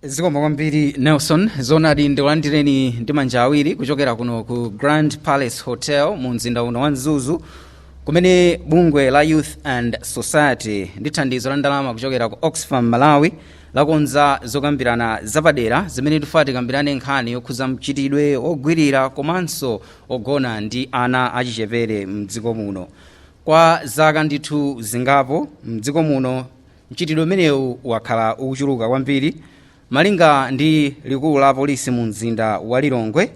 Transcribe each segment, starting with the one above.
zikomo kwambiri nelson zonadi ndikulandireni ndi manja awiri kuchokera kuno ku grand palace hotel mu mzinda uno wa mzuzu kumene bungwe la youth and society ndi thandizo la ndalama kuchokera ku oxfam malawi lakonza zokambirana zapadera zimene tifuna tikambirane nkhani yokhuza mchitidwe ogwirira komanso ogona ndi ana achichepere mdziko muno kwa zaka ndithu zingapo mdziko muno Mchitidwe umenewu wakhala ukuchuluka kwambiri malinga ndi likulu la polisi mu mzinda wa Lilongwe.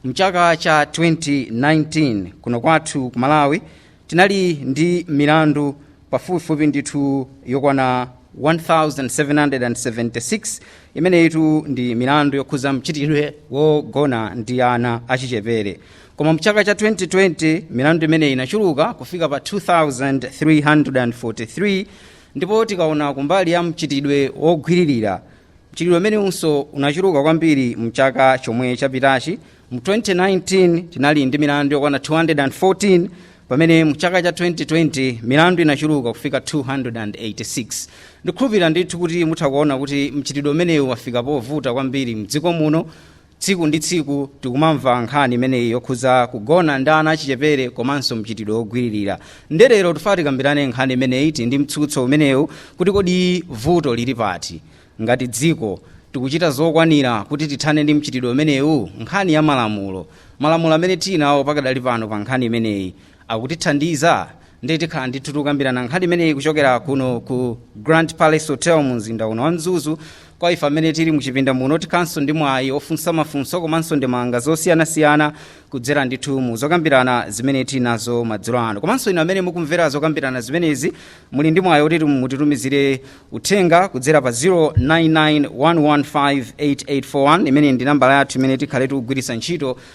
Mchaka cha 2019 kuno kwathu ku Malawi tinali ndi milandu pafupifupi ndithu yokwana 1776 imeneyitu ndi milandu yokhuza mchitidwe wogona ndi ana achichepere koma mchaka cha 2020 milandu imeneyi inachuluka kufika pa 2343 ndipo tikaona kumbali ya mchitidwe wogwiririra mchitidwe umenewunso unachuluka kwambiri mchaka chomwe chapitachi mu 2019 tinali ndi milandu yokwana 214 pamene mchaka cha 2020 milandu inachuluka kufika 286 ndikhulupirira ndithu kuti mutha kuona kuti mchitidwe umenewu wafika povuta kwambiri mdziko muno Tsiku ndi tsiku tikumamva nkhani imeneyi yokhuza kugona ndi ana achichepere komanso mchitidwe wogwiririra. Nde lero tifuna tikambirane nkhani imeneyi tili ndi mtsutso umenewu kuti kodi vuto lili pati? Ngati dziko tikuchita zokwanira kuti tithane ndi mchitidwe umenewu? Nkhani ya malamulo. Malamulo amene tili nawo pakadali pano pa nkhani imeneyi. akutithandiza ndiye tikhala ndithu tikukambirana nkhani imeneyi kuchokera kuno ku grand palace hotel mu mzinda uno wa mzuzu kwa ife amene tili muchipinda muno tikhalanso ndi mwayi ofunsa mafunso komanso ndemanga zosiyanasiyana kudzera ndithu mu zokambirana zimene tili nazo madzulo ano komanso inu amene mukumvera zokambirana zimenezi muli ndi mwayi oti mutitumizire uthenga kudzera pa 0991158841 imene ndi nambala yathu imene tikhale tikugwiritsa ntchito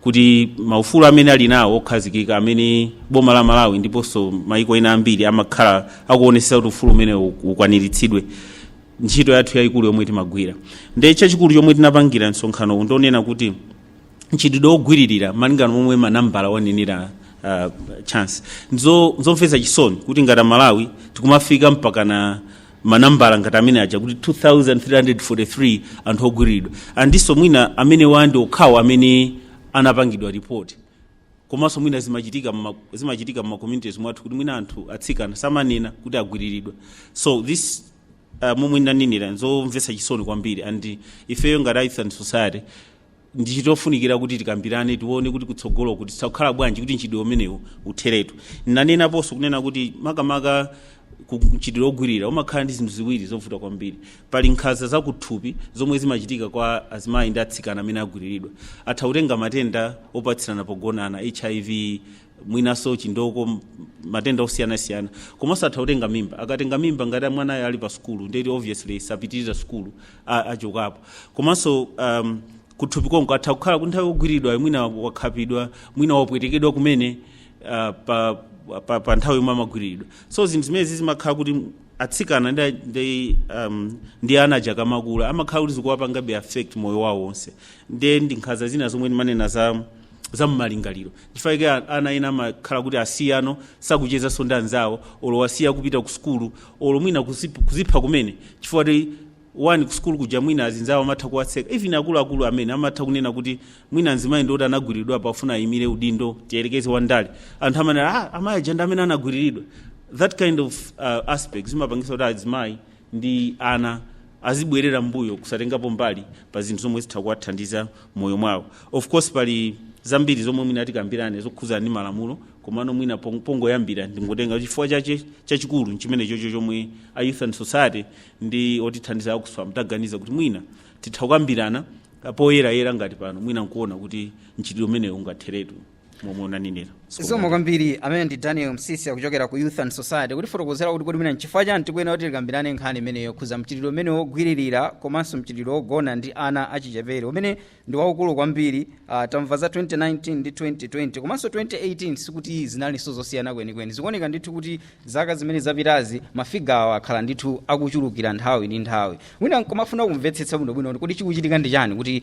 kuti maufulu amene ali nawo okhazikika amene boma la malawi ndiponso maiko ena ambiri amakhala akuonetsa kuti ufulu umenewo ukwaniritsidwe ntchito yathu yayikulu yomwe timagwira nde chachikulu chomwe tinapangira msonkhano uwu ndi yonena kuti mchitidwe wogwiririra malingana momwe manambala wanenera uh, chance nzo nzomvetsa chisoni kuti ngati amalawi tikumafika mpakana manambala ngati amene aja kuti 2343 anthu ogwiriridwa ndiponso mwina amenewa ndi okhawo amene anapangidwa report komanso mwina zimachitika mma- zimachitika mma communities mwathu kuti mwina anthu atsikana samanena kuti agwiriridwa so this uh, momwe ndanenera nzomvetsa chisoni kwambiri and ifeyo ngati youth and society ndichitofunikira kuti tikambirane tione kuti kutsogolo kuti zikhala bwanji kuti mchitidwe umenewu utheretu ndinenaponso kunena kuti makamaka ku- mchitidwe wogwirira umakhala ndi zinthu ziwiri zovuta kwambiri pali nkhanza zakuthupi zomwe zimachitika kwa azimayi ndi atsikana amene agwiriridwa atha kutenga matenda opatsirana pogonana hiv mwinaso chindoko m- matenda osiyanasiyana komanso atha kutenga mimba akatenga mimba ngati mwanayo ali pa sukulu ndeti obviously sapitiriza sukulu a- achokapo komanso um, kuthupi konko atha kukhala kuti nthawi yogwiriridwa mwina wakhapidwa mwina wapwetekedwa kumene uh, pa, pa, pa nthawi yomwe amagwiriridwa so zinthu zimenezi zimakhala kuti atsikana ndi, ndi, um, ndi ana aja akamakula amakhala kuti zikuwapangabe affect moyo wawo wonse ndiye ndi nkhanza zina zomwe ndimanena za za mmalingaliro chifukwa chake a- ana ena amakhala kuti asiyano sakuchezanso ndi anzawo olo wasiya kupita ku sukulu olo mwina kuzip- kuzipha kumene chifukwa ti wani ku sukulu kuja mwina azinzawo amatha kuwatseka even akuluakulu amene amatha kunena kuti mwina mzimayi ndiwoti anagwiriridwa pafuna ayimire udindo tiyerekeze wandale anthu amanena ah, amayi aja ndi amene anagwiriridwa that kind of uh, aspect zimapangisa kuti azimayi ndi ana azibwerera mbuyo kusatengapo mbali pa zinthu zomwe zitha kuwathandiza moyo mwawo of course pali zambiri zomwe mwina tikambirane zokhudzana ndi malamulo komano mwina pong- pongoyambira ndingotenga chifukwa chache chachikulu nchimene chocho chomwe a youth and society ndi otithandiza a Oxfam taganiza kuti mwina titha kukambirana poyerayera ngati pano mwina nkuona kuti mchitidwe umenewu ungatheretu momwe unanenera zikomo kwambiri amene ndi daniel msisi akuchokera ku youth and society kutifotokozera kuti kodi mwina nchifukwa chani tikuyenera kuti tikambirane nkhani imeneyo yokhuza mchitidwe umene wogwiririra komanso mchitidwe wogona ndi ana achichepere umene ndi waukulu kwambiri uh, tamva za 2019 ndi 2020 komanso 2018 sikuti zinalinso zosiyana kwenikweni zikuoneka ndithu kuti zaka zimene zapitazi mafigawa akhala ndithu akuchulukira nthawi ndi nthawi wina nkomafuna kumvetsetsa bwinobwino kuti kodi chikuchitika ndi chani kuti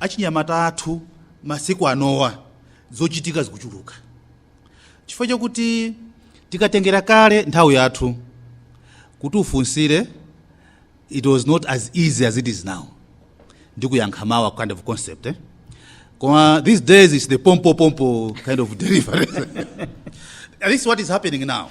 Achinyamata athu masiku anowa zochitika zikuchuluka chifukwa chakuti tikatengera kale nthawi yathu kuti ufunsire it was not as easy as it is now ndikuyankha mawa kind of concept eh? koma these days it's the pompo pompo kind of delivery this is what is happening now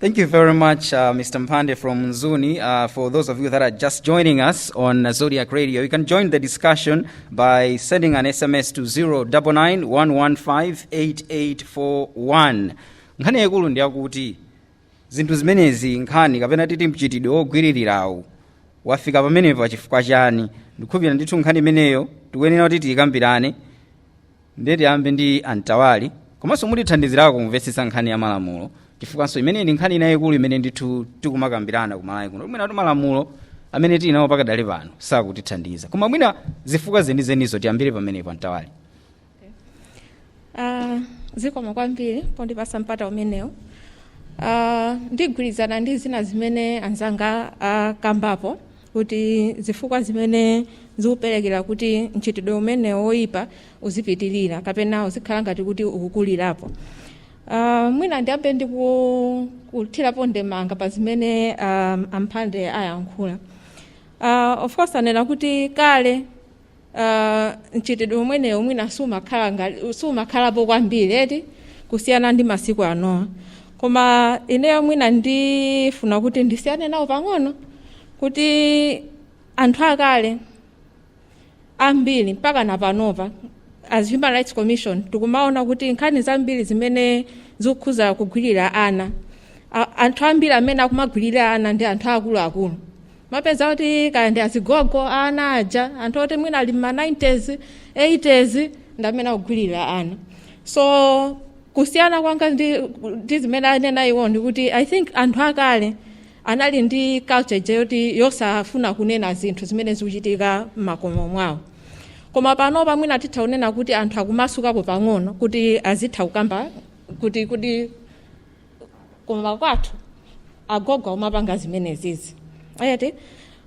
Thank you very much, uh, Mr. Mphande from Mzuni. Uh, for those of you that are just joining us on uh, Zodiak Radio, you can join the discussion by sending an SMS to 0991158841. Nkhani yaikulu ndi yakuti zinthu zimenezi nkhani kapena titi mchitidwe wogwiririrawu wafika pamenepa chifukwa chani ndikhupira ndithu nkhani imeneyo tikuyenera kuti tiyikambirane ndiye tiyambe ndi antawali komanso mutithandizirako kumvetsetsa nkhani ya malamulo chifukwanso imeneyi ndi nkhani ina yayikulu imene ndithu tikumakambirana ku Malawi kuno mwina kuti malamulo amene tili nawo pakadali pano sakutithandiza koma mwina zifukwa zenizenizo tiyambire pamenepo antawali Ah, zikomo kwambiri pondipatsa mpata umenewu Ah, ndigwirizana ndi zina zimene anzanga akambapo kuti zifukwa zimene zikuperekera kuti mchitidwe umenewo woyipa uzipitirira kapena uzikhala ngati kuti ukukulirapo uh, mwina ndiyambe ndi ku- kuthirapo ndemanga pa zimene um, a Mphande ayankhula uh, of course anena kuti kale uh, mchitidwe umenewu mwina sumakhala ngati- sumakhalapo kwambiri eti kusiyana ndi masiku anowa koma ineyo mwina ndifuna kuti ndisiyane nawo pang'ono kuti anthu akale ambiri mpaka na panopa as human rights commission tikumaona kuti nkhani zambiri zimene zikukhuza kugwirira ana A- anthu ambiri amene akumagwirira ana ndi anthu akuluakulu mapeza kuti kaya ndi azigogo ana aja anthu oti mwina ali mma 90s 80s ndi amene akugwirira ana so kusiyana kwanga ndi, ndi zimene anena iwo ndi kuti i think anthu akale anali ndi culture ija yoti yosafuna kunena zinthu zimene zikuchitika m'makomo mwawo koma panopa mwina titha kunena kuti anthu akumasukapo pang'ono kuti azitha kukamba kuti kuti koma kwathu agogo amapanga zimenezizi eti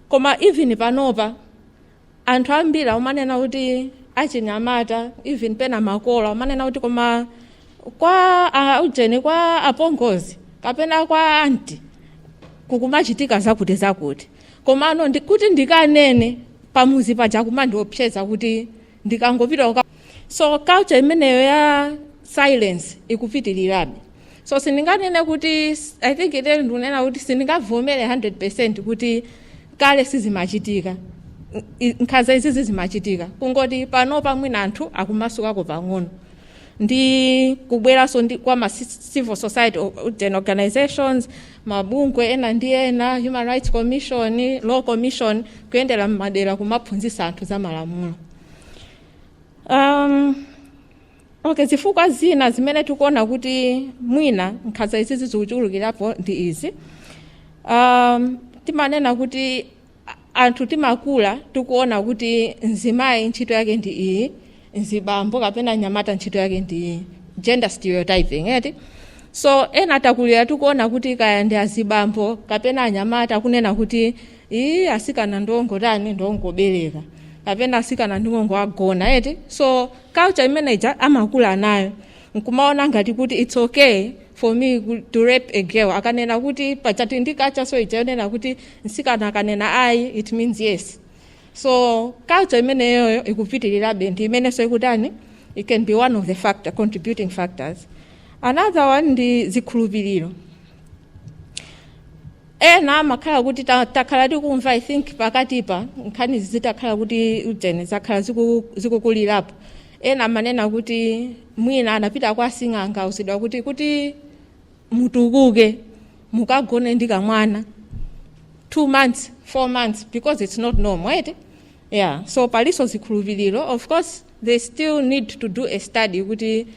koma even panopa anthu ambiri amanena kuti achinyamata even pena makolo amanena kuti koma kwa ah, ujeni kwa apongozi kapena kwa anti kukumachitika zakuti zakuti komano ndi, kuti ndikanene pamudzi paja akumandiopseza kuti ndikangopita uka so culture imeneyo ya silence ikupitirirabe so sindinganene kuti i think eti ndikunena kuti sindingavomere 100 percent kuti kale sizimachitika I- nkhanza izizi zimachitika kungoti panopa mwina anthu akumasukako pang'ono ndi kubweranso ndi kwa ma ci- civil society o- then organizations mabungwe ena ndi ena human rights commission law commission kuyendera m'madera kumaphunzitsa anthu za malamulo um, okay zifukwa zina zimene tikuona kuti mwina nkhanza izizi zikuchulukirapo ndi izi um, timanena kuti anthu timakula tikuona kuti mzimayi ntchito yake ndi iyi mzibambo kapena mnyamata ntchito yake ndi iyi gender stereotyping eti so ena takulira tikuona kuti kaya ndi azibambo kapena anyamata kunena kuti ii asikana ndongotani ndongobereka kapena asikana ndingongo agona eti so culture imene ija amakula nayo nkumaona ngati kuti its okay for me ku- to rape a girl akanena kuti pachati ndi culture so ija yonena kuti mtsikana akanena ayi it means yes so culture imeneyoyo ikupitirirabe ndi imenenso ikutani it can be one of the factor contributing factors another one ndi zikhulupiriro ena amakhala kuti ta- takhala tikumva i think pakatipa nkhani zitakhala kuti ujeni zakhala ziku- zikukulirapo ena amanena kuti mwina anapita kwa sing'anga auzidwa kuti kuti mutukuke mukagone ndi kamwana two months four months because it's not normal eti yeah so paliso zikhulupiriro of course they still need to do a study kuti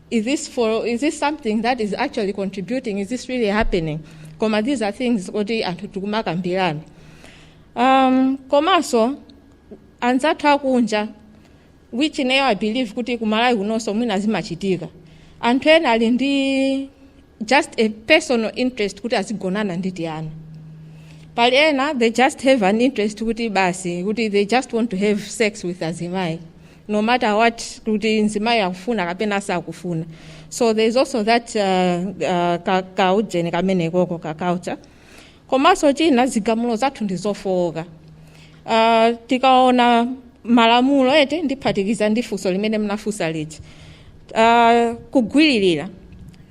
is this for is this something that is actually contributing is this really happening koma these are things kuti anthu tikumakambirana um, komanso anzathu akunja which nayo i believe kuti kumalawi kunonso mwina zimachitika anthu ena ali ndi just a personal interest kuti azigonana ndi tiana pali ena they just have an interest kuti basi kuti they just want to have sex with azimayi no matter what kuti mzimayi akufuna kapena sakufuna so there is also that uh, uh, ka, ka ujeni kamene koko ka culture komanso china zigamulo zathu ndi zofooka uh, tikaona malamulo eti ndiphatikiza ndi funso limene mnafunsa lija uh, kugwiririra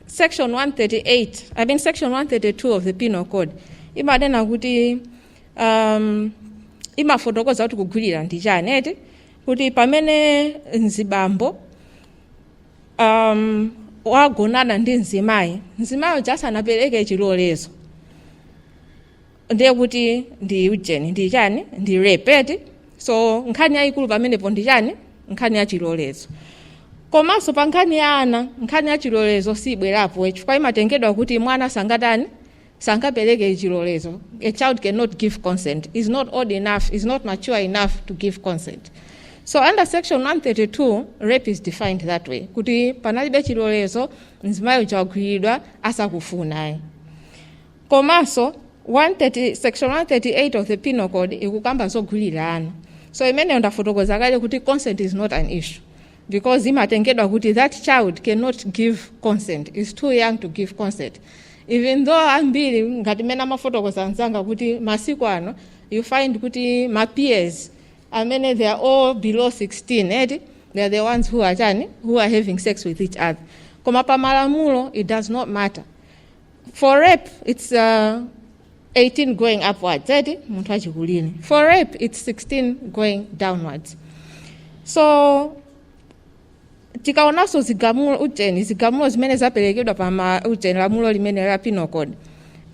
section 138 i mean section 132 of the penal code imanena kuti um, imafotokoza kuti kugwirira ndi chani eti kuti pamene mzibambo um, wagonana ndi mzimayi mzimayi uja asanapereke chilolezo ndiye kuti ndi ujeni ndi chani ndi rape eti so nkhani yayikulu pamenepo ndi chani nkhani ya chilolezo komanso pa nkhani ya ana nkhani ya chilolezo sibwerapo chifukwa imatengedwa kuti mwana sangatani sangapereke chilolezo a child cannot give consent is not old enough is not mature enough to give consent so under section 132 rape is defined that way kuti panalibe chilolezo mzimayi uja wagwiridwa asakufunayi komanso 130 section 138 of the penal code ikukamba zogwirira ana so imeneyo ndafotokoza kale kuti consent is not an issue because imatengedwa kuti that child cannot give consent is too young to give consent even though ambiri ngati mene amafotokozera anzanga kuti masiku ano you find kuti ma peers amene they are all below 16 eti they are the ones who are chani who are having sex with each other koma pa malamulo it does not matter for rape it's uh, 18 going upwards eti munthu wachikulire for rape it's 16 going downwards so tikaonanso zigamulo ujeni zigamulo zimene zaperekedwa pa ma ujeni lamulo limene la penal code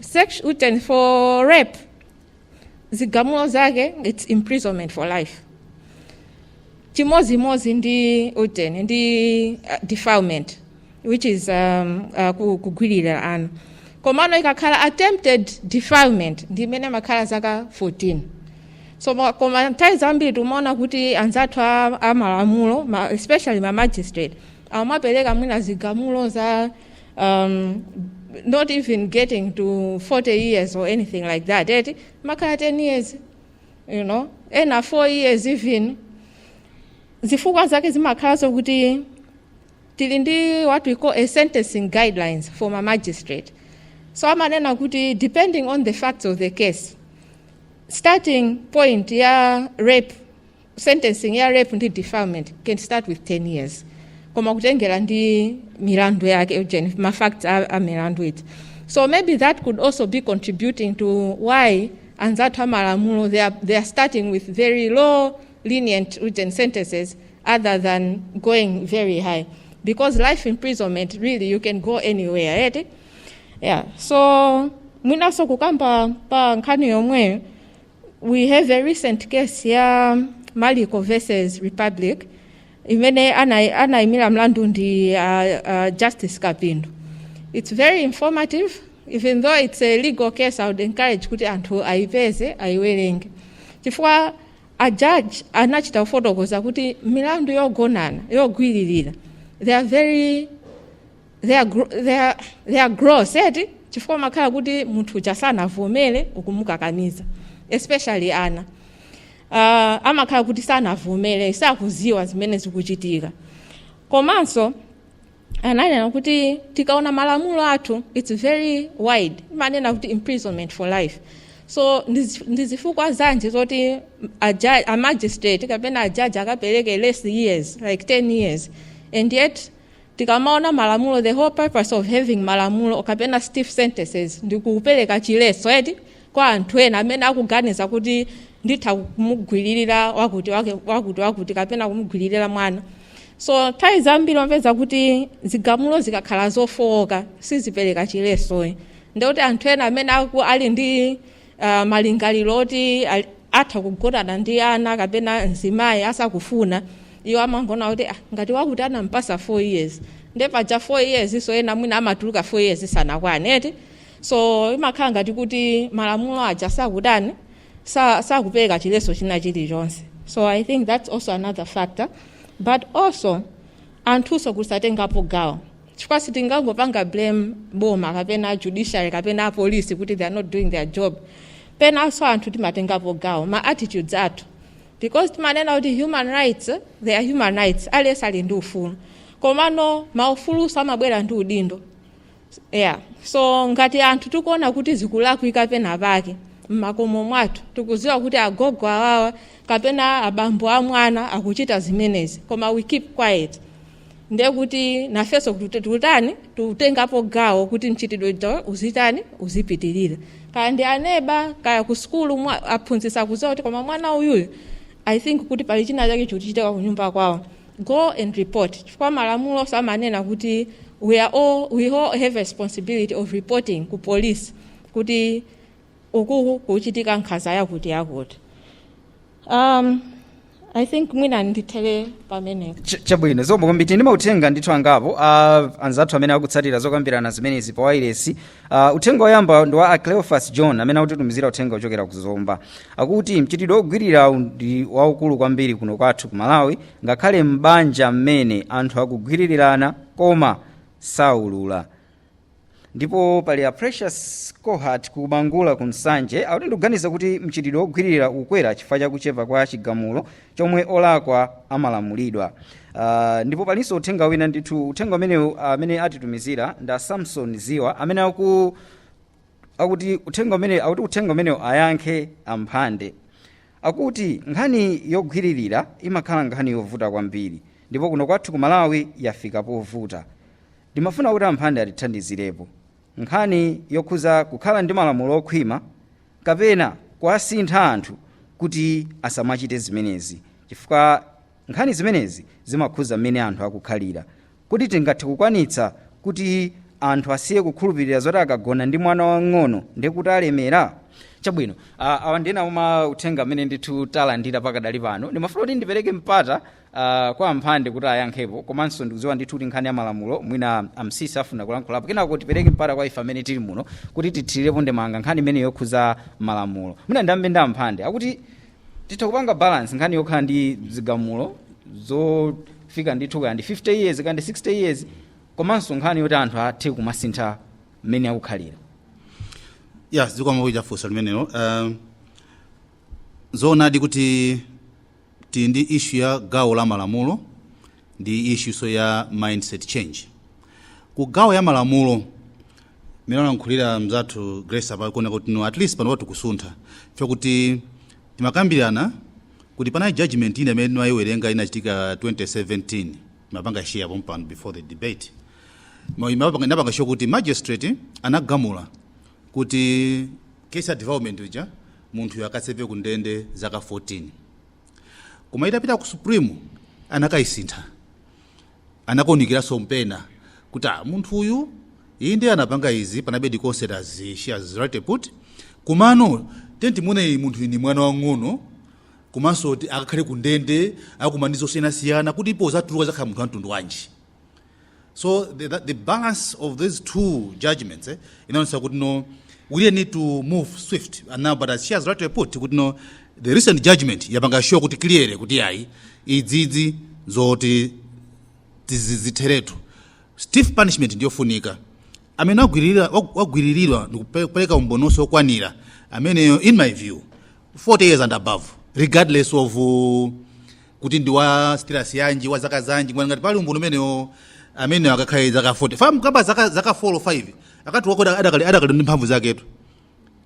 Sect- ujeni for rape zigamulo zake it's imprisonment for life chimodzimodzi ndi ujeni ndi uh, defilement which is um, uh, ku- kugwiririra ana komano ikakhala attempted defilement ndi imene amakhala zaka 14 so ma- koma nthawi zambiri timaona kuti anzathu a- a malamulo ma- especially ma magistrate amapereka mwina zigamulo za um, not even getting to 40 years or anything like that eti makhala 10 years you know ena 4 years even zifukwa zake zimakhala zokuti tili ndi what we call a sentencing guidelines for ma magistrate so amanena kuti depending on the facts of the case starting point ya rape sentencing ya rape ndi defilement can start with 10 years koma kutengera ndi milandu yake ujeni ma facts a, a milandu eti so maybe that could also be contributing to why anzathu amalamulo they are, they are starting with very low lenient written sentences other than going very high because life imprisonment really you can go anywhere eti yeah so mwinaso kukamba pa nkhani yomweyo we have a recent case ya maliko versus republic imene ana- anayimira mlandu ndi uh, uh, justice kapindu it's very informative even though it's a legal case i would encourage kuti anthu ayipeze ayiwerenge chifukwa a judge anachita kufotokoza kuti milandu yogonana yogwiririra they are very they are, gro- they are, they are gross eti chifukwa makhala kuti munthu uja sanavomere ukumukakamiza especially ana uh, amakhala kuti sanavomere sakuziwa zimene zikuchitika komanso ananena kuti tikaona malamulo athu its very wide imanena kuti imprisonment for life so ndizi- ndi zifukwa zanji zoti a ju- a magistrate kapena a judge akapereke less years like 10 years and yet tikamaona malamulo the whole purpose of having malamulo kapena stiff sentences ndi kupereka chiletso eti kwa anthu ena amene akuganiza kuti nditha kumugwiririra wakuti wake- wakuti wakuti kapena kumugwiririra mwana so nthawi zambiri wapeza kuti zigamulo zikakhala zofowoka sizipereka chiletso ndikuti anthu ena amene aku- ali ndi uh, malingaliro oti ali- atha kugonana ndi ana kapena mzimayi asakufuna iwo amangona kuti ah, ngati wakuti anampasa 4 years nde paja 4 years nso ena mwina amatuluka 4 years sanakwane eti so imakhala ngati kuti malamulo aja sakutani sa- sakupereka chiletso china chilichonse so i think that's also another factor but also anthunso kusatengapo gawo chifukwa sitingangopanga blame boma kapena judiciary kapena apolisi kuti they are not doing their job penanso anthu timatengapo gawo ma attitudes athu because timanena kuti human rights they are human rights aliyense ali ndi ufulu komano maufulunso amabwera ndi udindo yeah so ngati anthu tikuona kuti zikulakwika pena pake mmakomo mwathu tikudziwa kuti agogo awawa kapena abambo a mwana akuchita zimenezi koma we keep quiet ndiye kuti nafenso tikutani tikutengapo gawo kuti mchitidwe uja uzitani uzipitirira kaya ndi aneba kaya ku sukulu mwa- aphunzitsi akudziwa kuti koma mwana uyuyu i think kuti pali china chake chikuchitika kunyumba kwawo go and report chifukwa malamulonso amanena kuti we are all, we all have a responsibility of reporting ku police kuti uku kuchitika nkhanza yakuti yakuti um, i think mwina ndithere pamenepo Ch- chabwino zikomo kwambiri ndi mauthenga ndithu angapo a anzathu amene akutsatira zokambirana zimenezi pa wailesi Uh, uthenga woyamba ndi wa a cleofas john amene akutitumizira uthenga wochokera ku zomba akuti mchitidwe wogwiririrawu ndi waukulu kwambiri kuno kwathu ku malawi ngakhale m'banja momwe anthu akugwiririrana koma saulula ndipo pali a precious cohat ku bangula ku nsanje akuti ndikuganiza kuti mchitidwe wogwiririra ukwera chifukwa cha kuchepa kwa chigamulo chomwe olakwa amalamulidwa uh, ndipo palinso uthenga wina ndithu uthenga umenewu amene atitumizira nda samson ziwa amene aku akuti uthenga umene akuti uthenga umenewu ayankhe amphande akuti nkhani yogwiririra imakhala nkhani yovuta kwambiri ndipo kuno kwathu ku malawi yafika povuta ndimafuna kuti amphande atithandizirepo Nkhani yokhudza kukhala ndi malamulo okhwima kapena kuwasintha anthu kuti asamachite zimenezi, chifukwa nkhani zimenezi zimakhudza mmene anthu akukhalira. Kodi tingathe kukwanitsa kuti anthu asiye kukhulupirira zoti akagona ndi mwana wamng'ono ndiye kuti alemera? Chabwino, ah, awa ndi ena mwa mauthenga amene ndithu talandira pakadali pano. Ndimafuna kuti ndipereke mpata uh, kwa amphande kuti ayankhepo komanso ndikudziwa ndithu kuti nkhani ya malamulo mwina amsisi afuna kulankhulapo kenako tipereke mpata kwa ife amene tili muno kuti tithirirepo ndemanga nkhani imeneyi yokhudza malamulo mwina ndiyambe ndi amphande akuti titha kupanga balance nkhani yokhala ndi zigamulo zofika ndithu kaya ndi 50 years kaya ndi 60 years komanso nkhani yoti anthu athe kumasintha mmene akukhalira ya, zikomo chifukwa cha funso limenelo um, zoonadi kuti Tili ndi issue ya gawo la malamulo ndi issuenso ya mindset change. Ku gawo ya malamulo mmene analankhulira mzathu Grace apa kuoneka kuti no at least panopa tikusuntha chifukwa choti timakambirana kuti panali judgment ina imene timayiwerenga inachitika 2017 timapanga share pompano before the debate Ma- imapanga- inapanga show kuti magistrate anagamula kuti case ya development uja munthuyo akaseve ku ndende zaka 14 koma itapita ku supreme anakayisintha anakaunikiranso nkupeza kuti ah, munthu uyu inde anapanga izi komabe considering as she has rightly put komano twenty-one munthu uyu ndi mwana wang'ono komanso ti- akakhale ku ndende akumana ndi zosiyanasiyana kuti apo adzatuluka adzakhala munthu wa mtundu wanji so the, the, the balance of these two judgments eh, inaonesa kuti no we really need to move swift and now but as she has rightly put kuti no the recent judgment yapanga show kuti clearly kuti ayi izizi zoti tizizitheretu stiff punishment ndiyofunika amene wagwiririra- wag- wagwiriridwa ndikupereka umboninso wokwanira ameneyo in my view 40 years and above regardless of uh, kuti ndi wa status yanji wa zaka zanji ngati ngati pali umboni umenewo ameneyo akakhale zaka 40 chifukwa mukampatsa zaka zaka 4 or 5 akatulukako ada- adakali adakali ndi mphamvu zaketu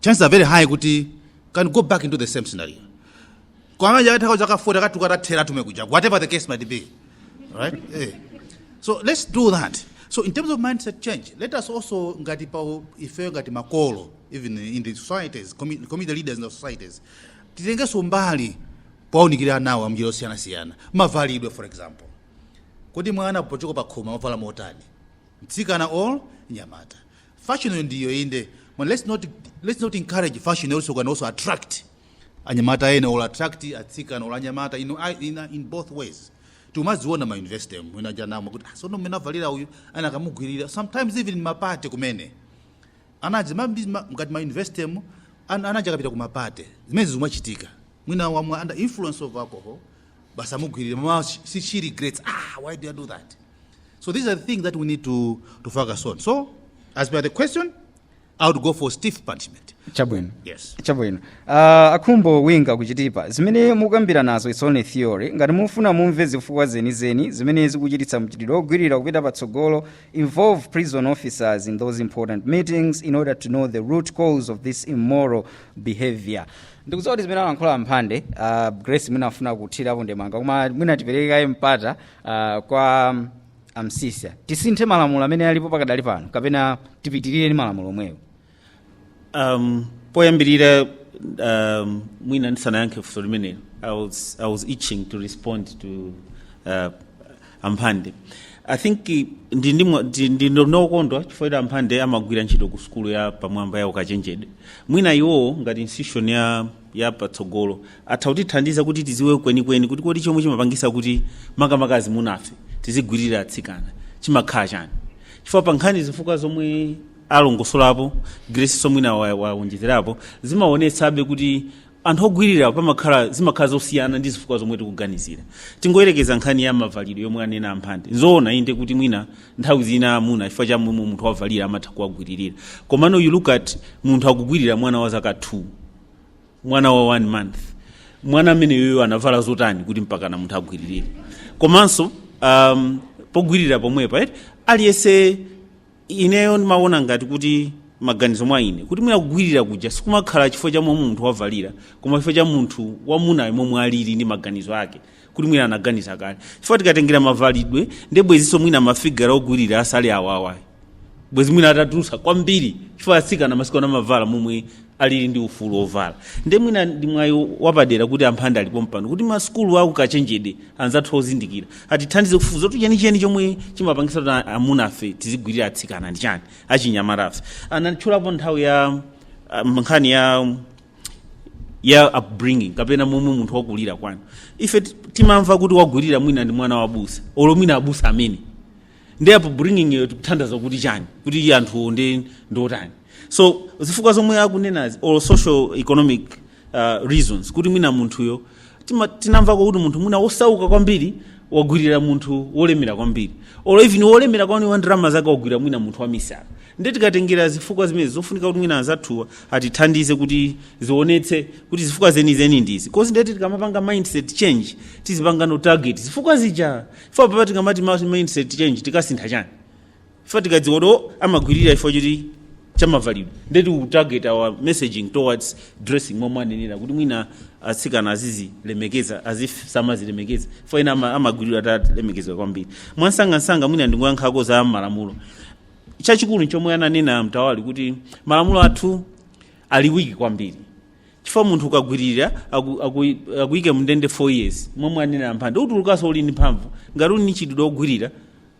chances are very high kuti he can go back into the same scenario komano atakhala zaka 40 akatuluka atatheratu kumene kuja whatever the case might be right eh. so let's do that so in terms of mindset change let us also ngati pa ifeyo ngati makolo even in the societies commu- community leaders in the societies titengeso mbali kuwaunikira anawo munjira zosiyanasiyana mavalidwe for example kodi mwana pochoka pa khomo amavala motani mtsikana or mnyamata fashion ndiyo inde but let's not, let's not encourage fashion also can also attract anyamata ena or attract atsikana or anyamata in, in, in both ways timaziona ma university mwina mujamo kuti ah, sono mmene wavalira uyu ena akamugwirira sometimes even mapate kumene Anajatu ma, ngati ma university mu, ana aja akapita ku ma party, zimenezi zikumachitika. Mwina wamwa under influence of alcohol, basi amugwilire, mmawa she she regrets, ah why did I do that? So these are the things that we need to, to focus on. So as per the question, I would go for stiff punishment. chabwino Yes. chabwino uh, a Khumbo Winga ku Chitipa zimene mukukambira nazo its only theory ngati mufuna mumve zifukwa zenizeni zimene zikuchititsa mchitidwe ogwirira kupita patsogolo involve prison officers in those important meetings in order to know the root cause of this immoral behavior ndikudziwa kuti zimene alankhula a Mphande uh, grace mwina afuna kuthirapo ndemanga koma mwina tipereke kaye mpata uh, kwa um, a Msiska tisinthe malamulo amene alipo pakadali pano kapena tipitirire ndi malamulo omwewo Um, poyambirira um, mwina ndisanayankhe funso limenelo I was, I was itching to respond to uh, amphande i think eh, ndi- ndi mwa- ndi- ndi- ndi nokondwa chifukwa kuti amphande amagwira ntchito ku sukulu ya pamwamba ya ukachenjede mwina iwowo ngati institution ya ya patsogolo atha kutithandiza kuti tiziwe kwenikweni kuti kodi chomwe chimapangisa kuti makamaka amunafe tizigwirira atsikana chimakhala chani chifukwa pa nkhani zifukwa zomwe alongosolapo Grace nso mwina wa- waonjezerapo zimaonetsabe kuti anthu ogwirira pamakhala zimakhala zosiyana ndi zifukwa zomwe tikuganizira tingoyerekeza nkhani ya mavalidwe yomwe anena amphande nzoona inde kuti mwina nthawi zina amuna chifukwa cha momwe munthu wavalira amatha kuwagwiririra komano you look at munthu akugwirira mwana wa zaka 2 mwana wa one month mwana ameneyoyo anavala zotani kuti mpakana munthu agwiririre komanso um, pogwirira pomwepa eti aliyense ineyo ndimaona ngati kuti maganizo mwa ine kuti mwina kugwirira kuja sikumakhala chifukwa cha momwe munthu wavalira koma chifukwa cha munthu wamunayo momwe alili ndi maganizo ake kuti mwina anaganiza kale chifukwa tikatengera mavalidwe ndi bwezinso mwina ma figure ogwirira asali awawa ayi bwezi mwina atatulusa kwambiri chifukwa atsikana masiku ano amavala momwe alili ndi ufulu wovala nde mwina ndi mwayi wapadera kuti amphande ali pompano kuti masukulu a ukachenjede anzathu ozindikira atithandize kufufuza kuti chenicheni chomwe chimapangisa kuti a- amunafe tizigwirira atsikana ndi chani achinyamatafe anatchulapo nthawi ya ah, nkhani ya ya upbringing kapena momwe munthu wakulira kwanu ife ti- timamva kuti wagwirira mwina ndi mwana wabusa olo mwina abusa amene ndi upbringing yo tikutanthauza kuti chani kuti anthu ndi ndiotani so zifukwa zomwe akunenazi or social economic uh, reasons kuti mwina munthuyo tima- tinamvako kuti munthu mwina wosauka kwambiri wagwirira munthu wolemera kwambiri or even wolemera kwambiri wa ndalama zake wagwirira mwina munthu wamisala ndi tikatengera zifukwa zimenezi zofunika kuti mwina anzathuwa atithandize kuti zionetse kuti zifukwa zenizeni ndizi cause ndiye kuti tikamapanga mindset change tizipanga no- target zifukwa zija Chifukwa apapa tikamati ma- mindset change tikasintha chani chifukwa tikadziwa kuti o, amagwirira chifukwa choti chamavalidwe nde ti target our messaging towards dressing momwe anenera kuti mwina atsikana azizilemekeza as if samazilemekeza chifukwa ena ama- amagwirira atalemekeza kwambiri mwansangansanga mwina ndingoyankhako za malamulo chachikulu chomwe ananena mtawali kuti malamulo athu ali wiki kwambiri chifukwa munthu ukagwirira aku- aku- akuyike mndende 4 years momwe anena mphande utulukaso uli ndi mphamvu ngati uli ndi chidudwe ogwirira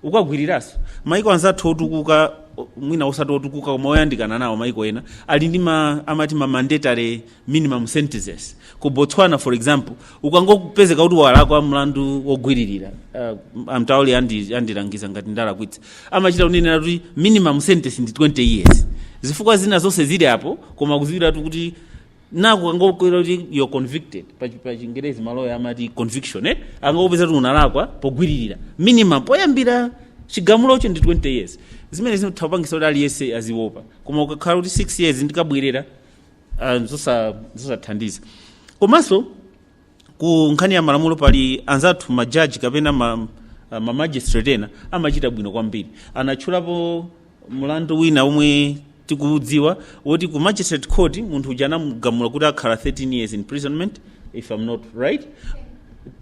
ukagwiriraso maiko anzathu otukuka o- mwina osati otukuka koma oyandikana nawo maiko ena ali ndi ma, amati ma mandatory minimum sentences ku botswana for example ukangopezeka kuti walakwa mlandu wogwiririra uh, a Mtawali andi- andilangiza ngati ndalakwitsa amachita kunenera kuti minimum sentence ndi 20 years zifukwa zina zonse zili apo koma kuziwiratu kuti akangokupeza kuti you're convicted pa chi- pa chingerezi maloya amati conviction eh? akakupeza kuti unalakwa pogwiririra minimum poyambira chigamulocho ndi 20 years zimene zingathe kupangisa kuti aliyense aziwopa koma ukakhala kuti 6 years ndikabwerera ah, zosa- zosathandiza komanso ku nkhani ya malamulo pali anzathu majaji kapena ma, ah, ma magistrate ena amachita bwino kwambiri anatchulapo mlandu wina omwe tikuudziwa woti ku magistrate court munthu uja anamugamula kuti akhala 13 years imprisonment if i'm not right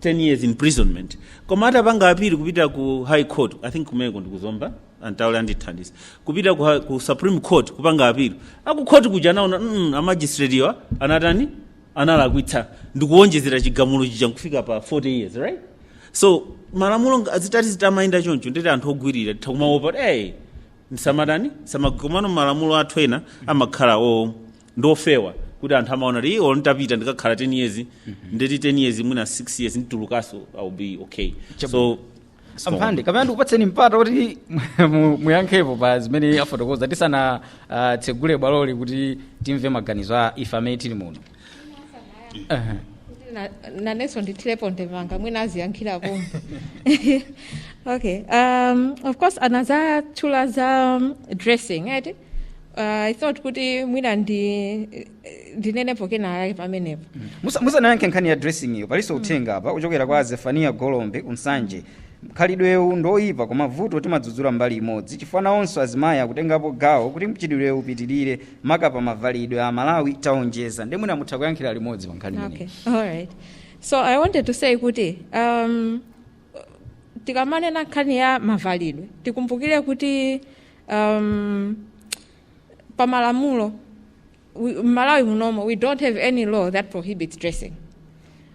10 years imprisonment koma atapanga appeal kupita ku high court i think kumeneko ndi ku Zomba a Mtawali andithandiza kupita ku, ku supreme court kupanga appeal akukhoti kuja anaona mm, amagistratiwa anatani analakwitsa nkuwonjezera chigamulo chija nkufika pa 40 years right so malamulo nga- zitati zitamayenda choncho ndeti anthu ogwirira titha kumaopa hey, ndisamatani samakomano malamulo athu ena amakhala o ndiofewa kuti anthu amaona kuti iwo nditapita ndikakhala 10 years ndeti 10 years mwina 6 years nditulukaso I'll be okay so a Mphande kapena ndikupatseni mpata kuti mu- muyankhepo pa zimene afotokoza tisanatsegule bwaloli kuti timve maganizo a ife amene tili muno Aha. Na- nanenso ndithirepo ndemanga mwina aziyankhira pomwe okay um, of course anatchula za um, dressing right uh, i thought kuti mwina ndi ndinenepo kenakake pamenepo Musa- musanayankhe nkhani ya dressing iyo palinso uthenga apa kuchokera kwa zefaniya golombe ku Nsanje mkhalidwewu ndoyipa koma vuto timadzudzula mbali imodzi chifukwa nawonso azimayi akutengapo gawo kuti mchitidwewu upitirire maka pa mavalidwe Amalawi taonjeza ndi mwina mutha kuyankhira limodzi pa nkhani imeneyi. Okay, all right. So I wanted to say kuti um, tikamanena nkhani ya mavalidwe tikumbukire kuti um, pa malamulo we- m'malawi munomo we don't have any law that prohibits dressing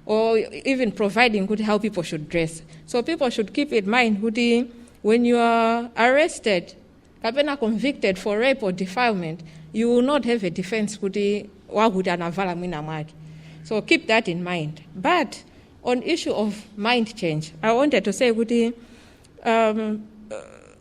or even providing kuti how people should dress so people should keep in mind kuti when you are arrested kapena convicted for rape or defilement you will not have a defense kuti wakuti anavala mwina mwake so keep that in mind but on issue of mind change i wanted to say kuti um,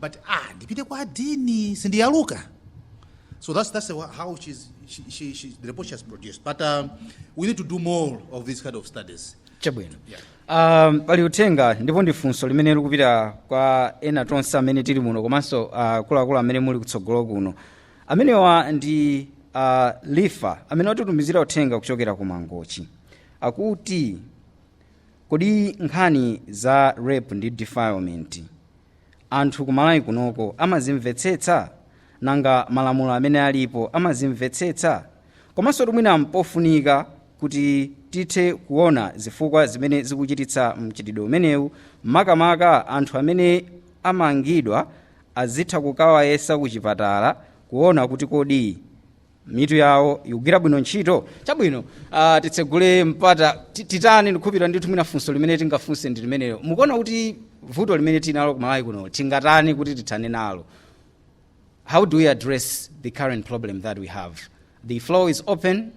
but ah ndipite kwa adini sindiyaluka so that's, that's wha- how she's, she, she, she, the report she has produced but um, we need to do more of these kind of studies chabwino um, pali uthenga ndipo ndi funso limene likupita kwa ena tonse amene tili muno komanso uh, akuluakulu amene muli kutsogolo kuno amenewa ndi uh, lifa amene watitumizira uthenga kuchokera ku mangochi akuti kodi nkhani za rape ndi defilement anthu kumalawi kunoko amazimvetsetsa? nanga malamulo amene alipo amazimvetsetsa? komansotu mwina mpofunika kuti tithe kuona zifukwa zimene zikuchititsa mchitidwe umenewu makamaka anthu amene amangidwa azitha kukawayesa kuchipatala kuona kuti kodi mitu yawo ikugwira bwino ntchito chabwino uh, titsegule mpata ti- titani ndikhulupira ndithu mwina funso limene tingafunse ndi limenelo mukuona kuti vuto limene tinalo ku malawi kuno tingatani kuti tithane nalo how do we address the current problem that we have the floor is open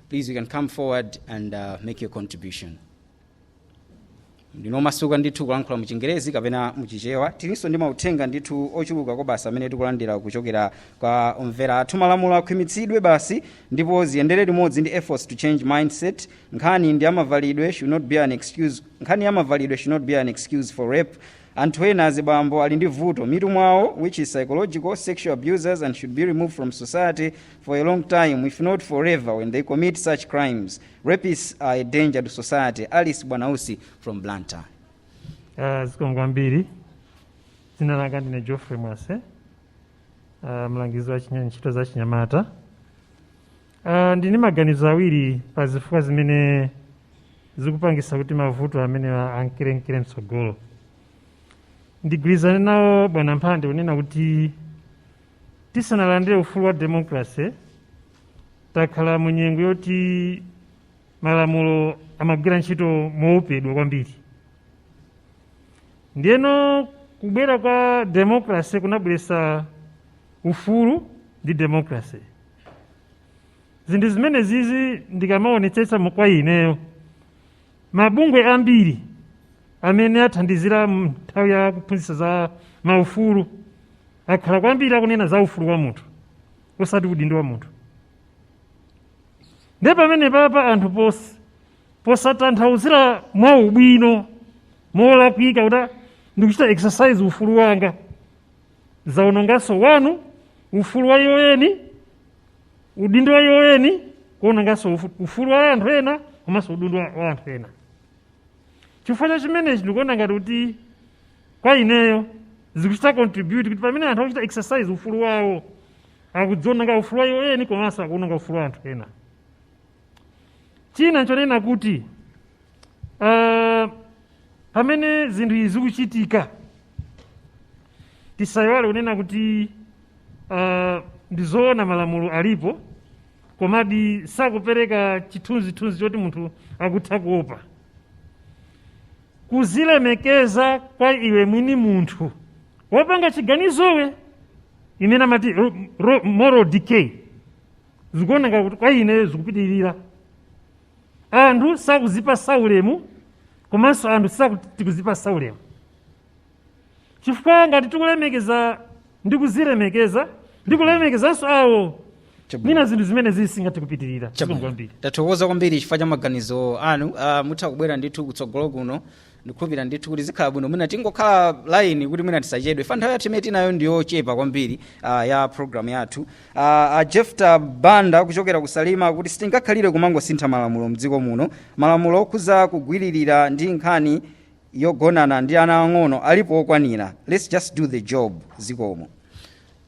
please you can come forward and uh, make your contribution ndinu omasuka ndithu kulankhula mu chingerezi kapena mu chichewa tilinso ndi mauthenga ndithu ochuluka kwabasi amene tikulandira kuchokera kwa omvera athu malamulo akhwimitsidwe basi ndipo ziyendere limodzi ndi efforts to change mindset nkhani ya mavalidwe should not be an excuse nkhani ya mavalidwe should not be an excuse for rape anthu ena azibambo ali ndi vuto mmitu mwawo which is psychological sexual abusers and should be removed from society for a long time if not forever when they commit such crimes Rapists are a danger to society. Alice Bwanausi from Blantyre. Uh, zikomo kwambiri dzina langa ndine geoffrey mwase uh, mlangizi wa chinya- ntchito za chinyamata uh, ndili ndi maganizo awiri pa zifukwa zimene zikupangisa kuti mavuto amenewa ankerenkere mtsogolo ndigwirizane nawo bwana mphande kunena kuti tisanalandire ufulu wa democracy takhala mu nyengo yoti malamulo amagwira ntchito mowopedwa kwambiri ndiyeno kubwera kwa demokrase kunabweretsa ufulu ndi demokrase zinthu zimene zizi ndikamaonetsetsa mu- kwa ineyo mabungwe ambiri amene athandizira munthawi ya kuphunzitsa za maufulu akhala kwambiri akunena za ufulu wa munthu osati udindo wa munthu nde pamene papa anthu pos- posatanthauzira mwa ubwino molakwika kuti "Ah, ndikuchita exercise ufulu wanga akuononganso wanu ufulu wa iwo eni udindo wa iwo eni kuononganso ufu- ufulu wa anthu ena komanso udindo wa wa anthu ena chifukwa cha chimenechi ndikuona ngati kuti kwa ineyo zikuchita contribute kuti pamene anthu akuchita exercise ufulu wawo akudziononga ufulu wa iwo eni komanso akuononga ufulu wa anthu ena china nchonena kuti uh, pamene zinthu izi zikuchitika tisayiwale kunena kuti uh, ndizoona malamulo alipo komadi sakupereka chithunzithunzi choti munthu akutha kuopa kuzilemekeza kwa iwe mwini munthu wopanga chiganizowe imene amati ro- ro- moral decay zikuoneka kuti kwa ineyo zikupitirira anthu sakuzipasa ulemu komanso anthu sakuzipasa ulemu chifukwa ngati tikulemekeza ndi kuzilemekeza ndi kulemekezanso awo Chabwino. mwina zinthu zimenezi sizingathe kupitirira Chabwino. Zikomo kwambiri tathokoza kwambiri chifukwa cha maganizo anu uh, mutha kubwera ndithu kutsogolo kuno ndikhulupirira ndithu kuti zikhala bwino mwina tingokhala line kuti mwina tisachedwe chifukwa nthawi yathu imene tinayo ndiyochepa kwambiri uh, ya programu yathu uh, uh, jefta banda kuchokera ku Salima akuti sitingakhalire kumangosintha malamulo mdziko muno malamulo okhuza kugwiririra ndi nkhani yogonana ndi ana ang'ono alipo okwanira let's just do the job zikomo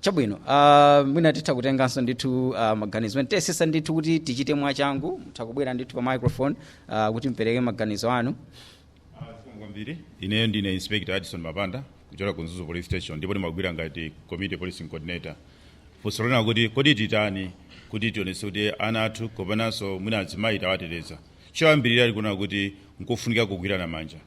chabwino uh, mwina titha kutenganso ndithu uh, maganizo ena tiyesetsa ndithu kuti tichite mwachangu mutha kubwera ndithu pa microphone uh, kuti mpereke maganizo anu Zikomo kwambiri ineyo ndine inspector Addison Mapanda kuchokera ku Mzuzu police station ndipo ndimagwira ngati community policing coordinator funso lonena kuti kodi titani kuti tionetse kuti ana athu komanso mwina azimayi tawateteza Choyambirira tikunena kuti nkofunika kugwirana manja.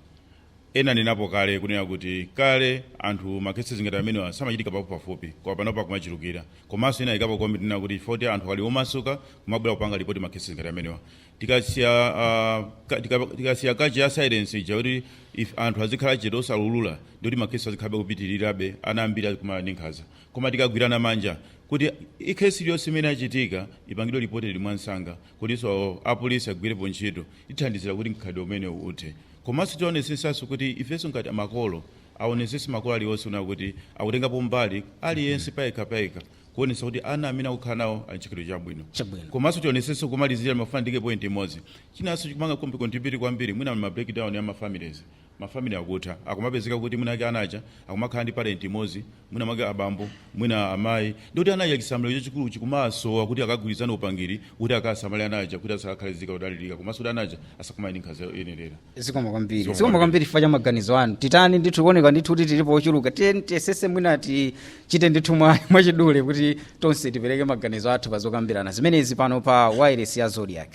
Ena anenapo kale kunena kuti kale anthu ma cases ngati amenewa samachitika pafupipafupi koma panopa akumachulukira. Komanso ena ayikapo comment yonena kuti chifukwa choti anthu ali omasuka kumabwera kupanga report ma cases ngati amenewa. Tikasiya ah, tika, tikasiya culture ya silence ija kuti ife anthu azikhala chete osaulula ndikuti ma cases azikhalabe akupitirirabe ana ambiri azikumana ndi nkhanza. Koma tikagwirana manja kuti i case iliyonse imene yachitika ipangidwe reported mwansanga kutinso apolisi agwirepo ntchito tithandizira kuti mkhalidwe umenewu uthe komanso tionetsetsanso kuti ifenso ngati makolo aonetsetse makolo alionse kunena kuti akutengapo mbali aliyense payekha payekha kuonetsa kuti ana amene akukhala nawo ali ndi chikhalidwe chabwino Chabwino. komanso tionetsetso kumalizira ndimafuna ndike point imodzi chinanso chikumapanga contribute kwambiri mwina ma breakdown ya ma families mafamily akutha akumapezeka kuti mwina ake ana aja akumakhala ndi parent imodzi mwina mwake abambo mwina amayi ndikuti ana aja chisamaliro chachikulu chikumasowa kuti akagwirizane upangiri kuti akasamale ana aja kuti asakakhale nzika zodalirika komanso kuti ana aja asakumane ndi nkhanza yoyenerera zikomo kwambiri Zikomo zikomo kwambiri chifukwa cha maganizo anu titani ndithu kuoneka ndithu kuti tilipo ochuluka tiyeni tiyesese mwina tichite ndithu mwa- mwachidule kuti tonse tipereke maganizo athu pa zokambirana zimenezi pano pa wireless ya Zodiak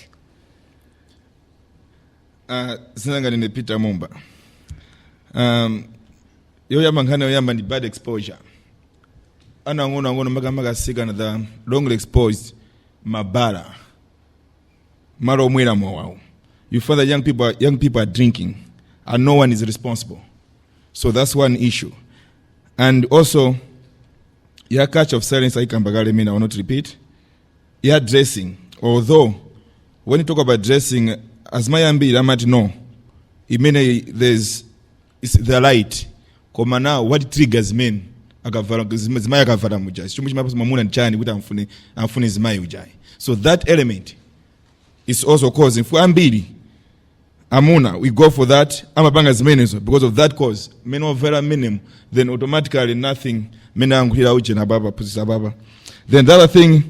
Uh, dzina langa ndine peter mumba um, yoyamba nkhani yoyamba ndi bad exposure ana ang'ono ang'ono makamaka asikana they are wrongly exposed m'mabala malo omwera mowawu you find that young people, are, young people are drinking and no one is responsible so that's one issue and also ya culture of silence aikamba kale mwina I will not repeat ya dressing although when you talk about dressing azimayi ambiri amati no imeneyi is the right koma now what triggers men akavala zima- zimayi akavala mujayi chomwe chimapatsa mwamuna ndi chani kuti amfune amfune zimayi ujayi so that element is also causing for ambiri amuna they go for that amapanga zimenezo because of that cause mmene wavalira mmenemo then automatically nothing mmene ayankhulira ujeni apapa aphunzitsa apapa then the other thing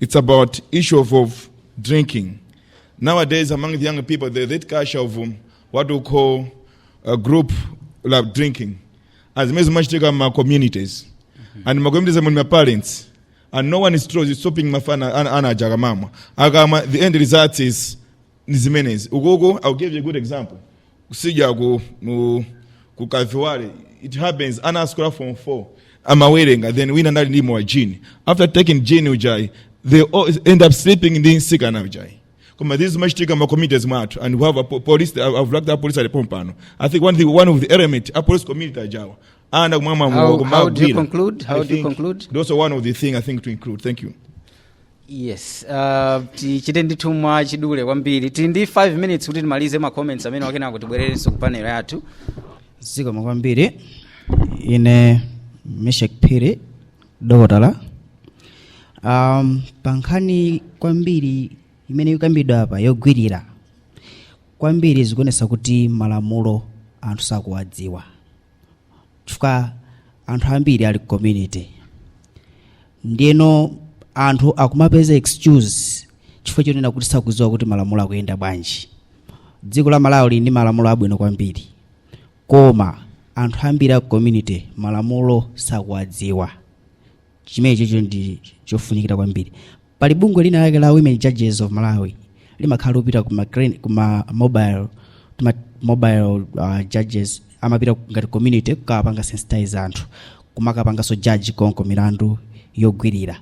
it's about issue of, of drinking nowadays among the young people there's that culture of um, what we call a group la drinking and zimene zimachitika m'ma communities and ma communities amene ma parents and no one is tro- stopping mafana ana- ana aja akamamwa akamwa the end result is ndi zimenezi ukoko i'll give you a good example kusija ku mu ku kaviwale it happens ana asukulu form 4 amawerenga then wina anali ndi mowa gin after taking gin ujayi they all end up sleeping ndi nsikana ujayi koma this zimachitika m'ma communities mwathu and we have a po- police I've I've liked a police ali pompano i think one, thing, one of the element a police community ajawa ana akumamwa How- how do you kumagwira. conclude? How I do you think conclude? those are one of the thing i think to conclude thank you yes uh, tichite ndithu mwa chidule kwambiri tili ndi 5 minutes kuti timalize ma comments amene wa kenako tibwererenso ku panel yathu zikomo kwambiri ine meshek phiri dokotala um, pa nkhani kwambiri imene ikukambidwa apa yogwirira kwambiri zikuonesa kuti malamulo anthu sakuwadziwa chifukwa anthu ambiri ali ku community ndiyeno anthu akumapeza excuse chifukwa chonena kuti sakudziwa kuti malamulo akuyenda bwanji dziko la malawi lili ndi malamulo abwino kwambiri koma anthu ambiri a ku community malamulo sakuwadziwa chimenechicho ndi chofunikira kwambiri pali bungwe lina lake la women judges of malawi limakhala likupita kuma, cren- kuma mobile tuma mobile uh, judges amapita ngati community kukawapanga sensitize anthu kumakapanganso judge konko milandu yogwirira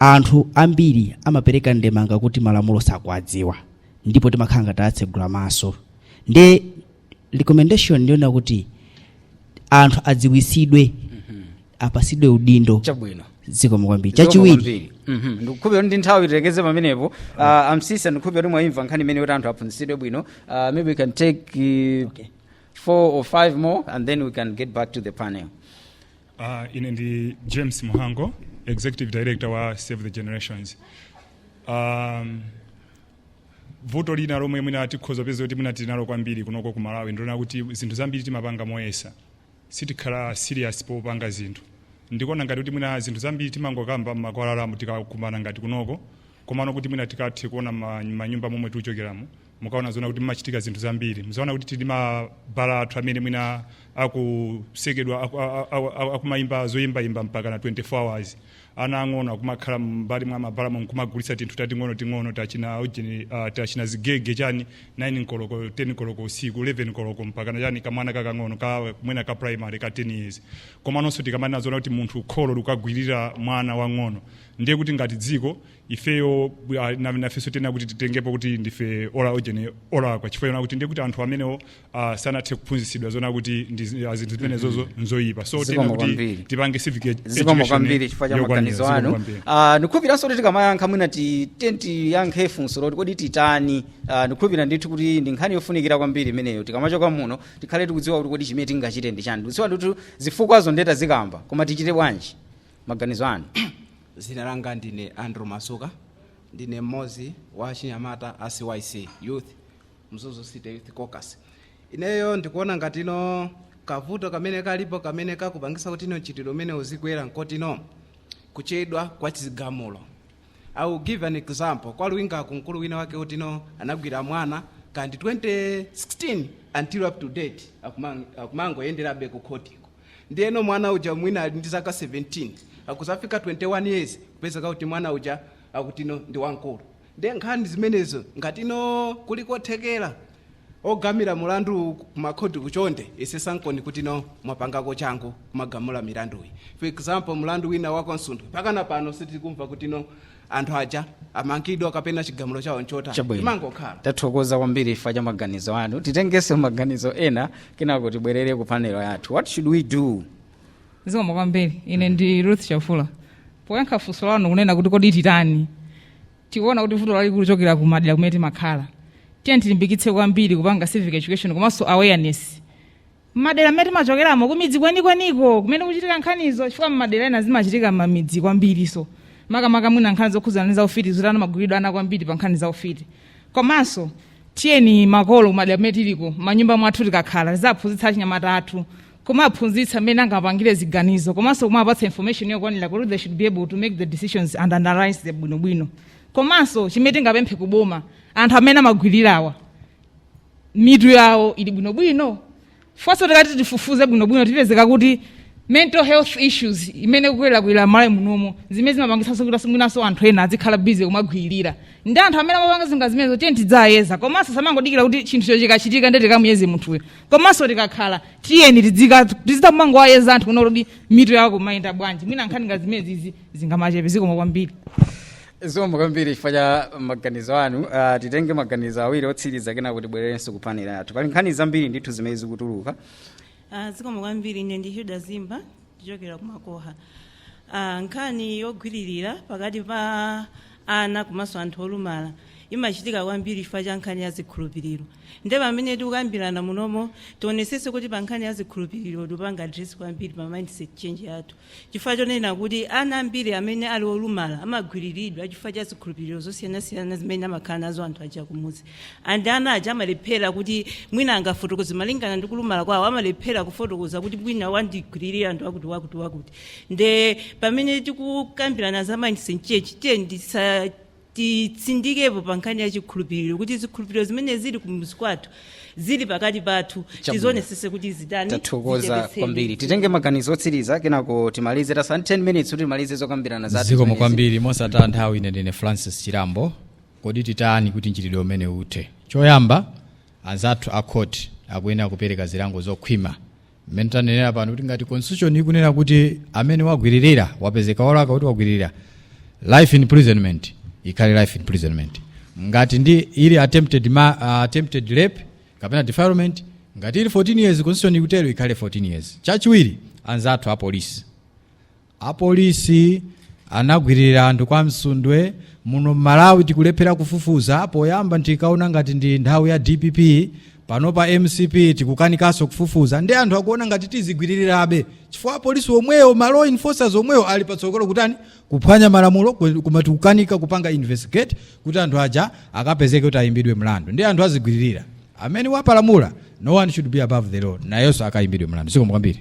Anthu ambiri amapereka ndemanga kuti malamulo sakuwadziwa ndipo timakhala ngati atsegula maso nde recommendation ndiyonena kuti anthu adziwitsidwe apasidwe udindo chabwino zikomo kwambiri chachiwiri ndikukhulupirira ndi nthawi tilekeze pamenepo Ah, a Msisha ndikukhulupirira kuti mwayimva nkhani imene kuti anthu aphunzitsidwe bwino Ah, maybe we can take uh, four or five more and then we can get back to the panel Uh, ine ndi James Muhango, Executive Director wa Save the Generations. Um, vuto lina lomwe mwina tikhoza kupeza kuti mwina tili nalo kwambiri kunoko ku Malawi ndilonena kuti zinthu zambiri timapanga moyesa sitikhala serious popanga zinthu ndikuona ngati kuti mwina zinthu zambiri timangokamba m'makwalalamu tikakumana ngati kunoko komano kuti mwina tikathe kuona ma- manyumba momwe tikuchokeramo mukaona zonena kuti mumachitika zinthu zambiri muzaona kuti tili mabhala athu amene mwina akutsekedwa aku- a- a- a- akumayimba zoyimbayimba mpaka na 24 hours ana ang'ono akumakhala m'mbali mwa mabhala momwe kumagulitsa tinthu tating'ono ting'ono tachina ujeni ah, tachina zigege chani 9 koloko 10 koloko usiku 11 koloko mpaka na chani kamwana kakang'ono ka mwina ka primary ka 10 years komanso tikamanena zonena kuti munthu kholo likagwirira mwana wang'ono ndiye kuti ngati dziko ifeyo bwa- na- nafenso tiyenera kuti titengepo kuti ndife ola ojeni olakwa chifukwa chonena kuti ndiye kuti anthu amenewo ah, sanathe kuphunzitsidwa zonena kuti ndi zi- ah, zinthu zimenezozo nzoyipa so Zikomo tiyenera kuti kwambiri. tipange civic ed- zikomo education kwambiri chifukwa cha yokwanira. maganizo Zikomo anu kwambiri. Ah, ndikukhulupiriranso kuti tikamayankha mwina ti- tiye tiyankhe funso loti kodi titani Ah, ndikukhulupirira ndithu kuti ndi nkhani yofunikira kwambiri imeneyo tikamachoka muno tikhale tikudziwa kuti kodi chimene tingachite ndi chani tikudziwa ndithu zifukwazo nde tazikamba koma tichite bwanji maganizo anu zina langa ndine andrew masuka ndine mmodzi wa achinyamata a cyc youth mzuzu city youth caucus ineyo ndikuona ngatino kavuto kamene kalipo kamene kakupangisa kutino mchitidwe umene uzikwera nkotino kuchedwa kwa chigamulo i will give an example kwa luwingaku mkulu wina wake kutino anagwirira mwana kandi 2016 until up to date akumang- akumangoyenderabe ku khotiko Ndiyeno mwana uja mwina ali ndi zaka 17, akudzafika 21 years kupezeka kuti mwana uja akutino ndi wamkulu. Ndiye nkhani zimenezo ngatino kuli kothekera ogamula mulandu ku makhotiku chonde yesesankoni kutino mwapangako changu kumagamula milanduyi. For example, mulandu wina wa kwa Msundwe mpakana pano sitikumva kutino anthu aja amangidwa kapena chigamulo chawo nchotani Chabwino. imangokhala tathokoza kwambiri chifukwa cha maganizo anu titengenso maganizo ena kenako tibwerere ku panel yathu what should we do zikomo kwambiri ine ndi ruth chafula poyankha funso lanu kunena kuti kodi titani tikuona kuti vuto likuchokera ku madera kumene timakhala tiyeni tilimbikitse kwambiri kupanga civic education komanso awareness mmadera mmene timachokeramo kumidzi kwenikweniko kumene kuchitika nkhanizo chifukwa mmadera ena zimachitika mmamidzi kwambiriso makamaka mwina nkhani zokhudzana ndi zaufiti zitani amagwiririra ana kwambiri pa nkhani zaufiti komanso tiyeni makolo kumadera mmene tiliko manyumba mwathu tikakhala tizawaphunzitsa achinyamata athu kumaphunzitsa mmene angapangire ziganizo komanso kumapatsa information yokwanira kuti they should be able to make the decisions and analyze them bwinobwino komanso chimene tingapemphe kuboma anthu amene amagwirirawa mitu yawo ili bwinobwino first tikati tifufuze bwinobwino tipezeka kuti mental health issues imene ikukwerakwera malawi munomo zimene zimapangitsanso kuti mwinanso anthu ena azikhala busy kumagwiririra ndi anthu amene amapanga zinthu ngati zimenezo tiye tidziwayeza komanso osamangodikira kuti chinthucho chikachitika ndiye tikamuyeze munthuyo komanso tikakhala tiyeni tidzika- tidzingowayeza anthu kuona kuti mitu yawo ikumayenda bwanji mwina nkhani nga zimenezizi zingamachepe zikomo kwambiri zikomo kwambiri chifukwa cha maganizo anu uh, titenge maganizo awiri otsiriza kenako tibwererenso ku panel yathu pali nkhani zambiri ndithu zimene zikutuluka Ah, zikomo kwambiri ine ndi hilda zimba ndichokera kumakoha Ah, nkhani yogwiririra pakati pa ana komanso anthu olumala imachitika kwambiri chifukwa cha nkhani ya zikhulupiriro nde pamene tikukambirana munomo tionesese kuti pa nkhani ya zikhulupiriro tipange address kwambiri pa mindset change yathu Chifukwa chonena kuti ana ambiri amene ali olumala amagwiriridwa chifukwa cha zikhulupiriro zosiyanasiyana zimene amakhala nazo anthu aja kumudzi and ana aja amalephera kuti mwina angafotokoze malingana ndi kulumala kwawo amalephera kufotokoza kuti mwina wandigwiririra anthu akuti wakuti wakuti nde pamene tikukambirana za mindset change tiyeni tiza titsindikepo pa nkhani ya chikhulupiriro kuti zikhulupiriro zimene zili kumudzi kwathu zili pakati pathu Chabwino. tizionesese kuti zitani tathokoza zichepetsedwe. kwambiri titenge maganizo otsiriza kenako timalize tatsala ndi 10 minutes kuti timalize zokambirana zathu zikomo zimenezi. kwambiri mosataya nthawi ine ndine francis chirambo kodi titani kuti mchitidwe umenewu uthe choyamba anzathu a khoti akuyenera kupereka zilango zokhwima mmene tanenera pano kuti ngati constitution ikunena kuti amene wagwiririra wapezeka wolakwa kuti wagwiririra life imprisonment ikhale life imprisonment ngati ndi ili attempted, ma, uh, attempted rape kapena defilement ngati ili 14 years constitution ikutero ikhale 14 years chachiwiri anzathu a polisi Apolisi anagwililira anthu kwa Msundwe, muno Mmalawi tikulephera kufufuza, poyamba tinkaona ngati ndi nthawi ya dpp, panopa mcp tikukanikaso kufufuza nde anthu akuona ngati tizigwililirabe chifukwa apolisi omweyo ma law enforcers omweyo ali patsogolo kutani kuphwanya malamulo kwe- koma tikukanika kupanga investigate kuti anthu aja akapezeke kuti ayimbidwe mlandu nde anthu azigwililira amene wapalamula no one should be above the law nayenso akayimbidwe mlandu zikomo kwambiri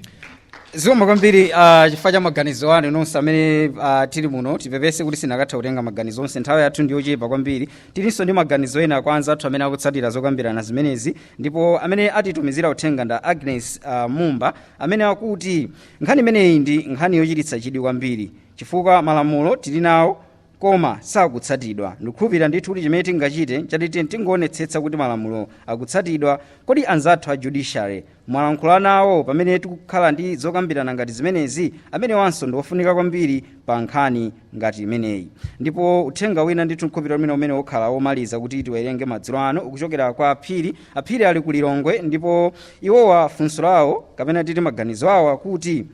zikomo kwambiri uh, chifukwa cha maganizo anu nonse amene uh, tili muno tipepese kuti sitinakathe kutenga maganizo onse nthawi yathu ndi yochepa kwambiri tilinso ndi maganizo ena kwa anzathu amene akutsatira zokambirana zimenezi ndipo amene atitumizira uthenga ndi a agnes uh, mumba amene akuti nkhani imeneyi ndi nkhani yochititsa chidwi kwambiri chifukwa malamulo tili nawo koma sakutsatidwa. Ndikukhulupirira ndithu kuti chimene tingachite nchati tiyeni tingoonetsetsa kuti malamulo akutsatidwa. Kodi anzathu a judiciary mwalankhula nawo pamene tikukhala ndi zokambirana ngati zimenezi? Amenewanso ndi ofunika kwambiri pa nkhani ngati imeneyi. Ndipo uthenga wina ndithu ndikukhulupirira kuti mwina umenewu ukhala womaliza kuti tiwerenge madzulo ano ukuchokera kwa a Phiri. A Phiri ali ku Lilongwe ndipo iwowa funso lawo kapena titi maganizo awo akuti,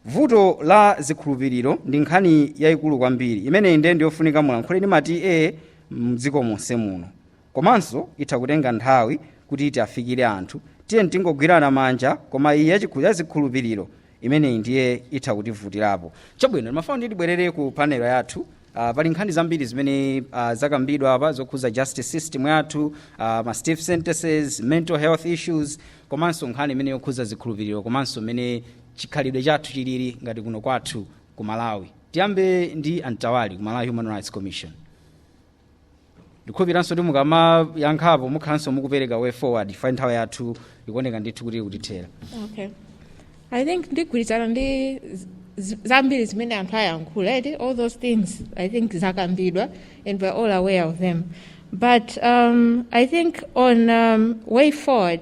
vuto la zikhulupiriro ndi nkhani yayikulu kwambiri imeneyi ndiye ndiyofunika mulankhule ndi ma TA mdziko monse muno komanso itha kutenga nthawi kuti tiafikire anthu tiyeni tingogwirana manja koma iyi yachikhu- ya zikhulupiriro imeneyi ndiye itha kutivutirapo chabwino timafuna kuti tibwerere ku panelo yathu Uh, pali nkhani zambiri zimene uh, zakambidwa apa zokhuza justice system yathu uh, ma stiff sentences mental health issues komanso nkhani imene yokhuza zikhulupiriro komanso mmene chikhalidwe chathu chilili ngati kuno kwathu ku malawi tiyambe ndi a mtawali ku malawi human rights commission ndikhulupiriranso kuti mukamayankhapo mukhalanso mukupereka way forward chifukwa nthawi yathu ikuoneka ndithu kuti ikutithera okay i think ndigwirizana ndi z- z- zambiri zimene anthu ayankhula eti all those things i think zakambidwa and we're all aware of them but um, i think on um, way forward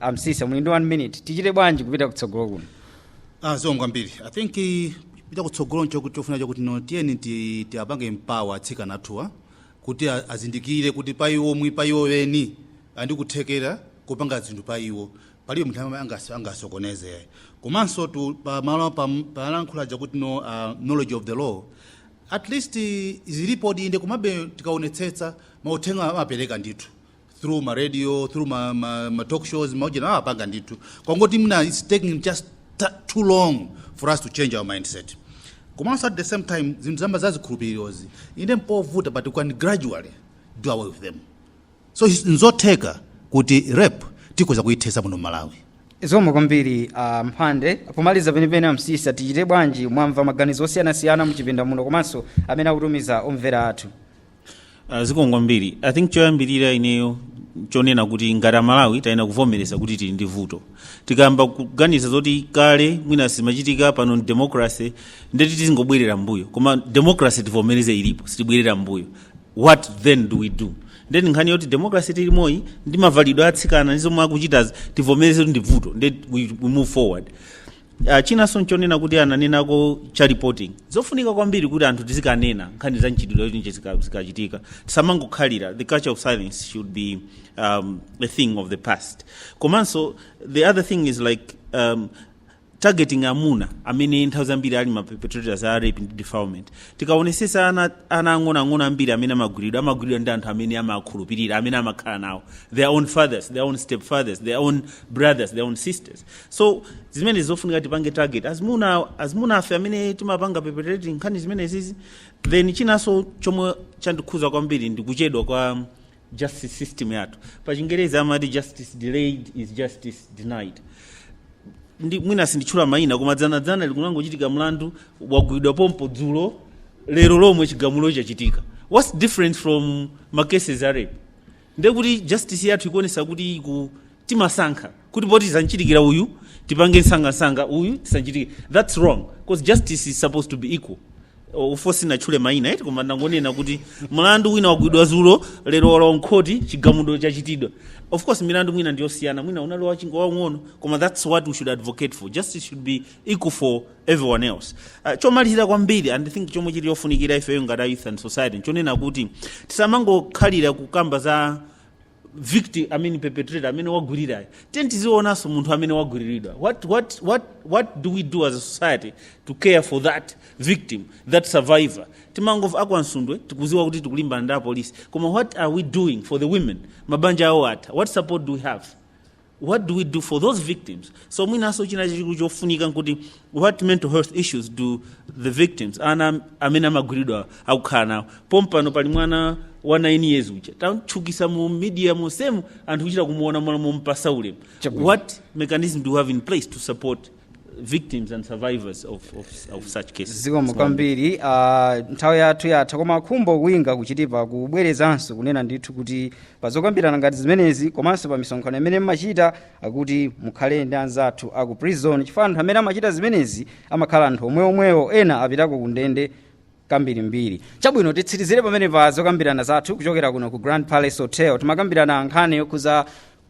a msiska muli ndi 1 minute tichite bwanji kupita kutsogolo kuno ah zikomo kwambiri i think eh, kupita kutsogolo ncho kuti chofunika chakuti no tiyeni ti- tiapange empower atsikana athuwa kuti a- azindikire kuti pa iwo mwi pa iwo eni ali ndi kuthekera kupanga zinthu pa iwo palibe munthu amene angas- angasokoneze komanso tu pa malo pa- palankhula chakuti no ah, knowledge of the law at least eh, zilipodi inde komabe tikaonetsetsa mauthenga amapereka ndithu through ma radio through ma, ma, ma talk shows maujena amapanga ndithu kungoti mwina its taking just ta- too long for us to change our mindset komanso at the same time zinthu zambiri zazikhulupirirozi inde nzovuta but we can gradually do away with them so it's- nzotheka kuti rape tikhoza kuyithetsa muno mmalawi zikomo kwambiri uh, mphande pomaliza penipeni a msiska tichite bwanji mwamva maganizo osiyanasiyana muchipinda muno komanso amene akutumiza omvera athu Uh, zikomo kwambiri i think choyambirira ineyo nchonena kuti ngati amalawi tayenera kuvomereza kuti tili ndi vuto tikayamba kuganiza zoti kale mwina sizimachitika pano democracy ndeti tizingobwerera mbuyo koma democracy tivomereze ilipo sitibwerera mbuyo what then do we do ndeti nkhani yoti democracy tilimoyi ndi mavalidwe atsikana ndi zomwe akuchitazi tivomereze kuti ndi vuto ndeti we, we move forward Ah, chinanso nchonena kuti ananenako cha reporting zofunika kwambiri kuti anthu tizikanena nkhani za mchitidwe yoti nje zika- zikachitika tisamangokhala the culture of silence should be um, a thing of the past komanso the other thing is like um, targeting amuna amene nthawi zambiri ali maperpetrators a rape ndi defilement tikaonesesa ana ana ang'onoang'ono ambiri amene amagwiridwa amagwiridwa ndi anthu amene amakhulupirira amene amakhala nawo their own fathers their own step fathers their own brothers their own sisters so zimene zofunika tipange target azimuna azimuna afe amene timapanga perpetrate nkhani zimenezizi then chinanso chomwe chandikhuza kwambiri ndi kuchedwa kwa justice system yathu pa chingerezi amati justice delayed is justice denied nde mwina sinditchula mayina koma dzanadzana kunangochitika mlandu wagwidwa pompo dzulo lero lomwe chigamulo chachitika what's different from macases a rape ndiye kuti justice yathu ikuonesa kuti iku timasankha kuti poti zamchitikira uyu tipange nsangansanga uyu sizamchitikira that's wrong because justice is supposed to be equal O- of course sindinatchule maina eti koma ndangonena kuti mlandu wina wagwidwa zulo lero walowa mkhoti chigamulo chachitidwa of course milandu mwina ndiyosiyana mwina unali wauching'ono waung'ono koma that's what we should advocate for justice should be equal for everyone else uh, chomalizira kwambiri and I think chomwe chili chofunikira ifeyo ngati a youth and society nchonena kuti tisamangokhalira kukamba za victim i mean perpetrator amene wagwirirayo tiyeni tizionanso munthu amene wagwiriridwa what, what, what, what do we do as a society to care for that victim that survivor timangomva akwa Nsundwe tikuziwa kuti tikulimbana ndi apolisi koma what are we doing for the women mabanja awo atha what support do we have what do we do for those victims so mwinanso china chachikulu chofunika nkuti what mental health issues do the victims ana amene amagwiridwa akukhala nawo pompano pali mwana wa 9 years uja tamtchukisa mu media monsemu anthu kuchita kumuona mwanu mompasa ulemu Chabwino. what mechanism do we have in place to support victims and survivors of, of, of such cases. zikomo kwambiri ah, nthawi yathu yatha koma Khumbo Kuinga ku Chitipa akubwerezanso kunena ndithu kuti pazokambirana ngati zimenezi komanso pa misonkhano imene mmachita akuti mukhale ndi anzathu aku prison chifukwa anthu amene amachita zimenezi amakhala anthu omweomwewo ena apitako ku ndende kambirimbiri chabwino titsirizire pamene pa zokambirana zathu kuchokera kuno ku grand palace hotel timakambirana nkhani yokhuza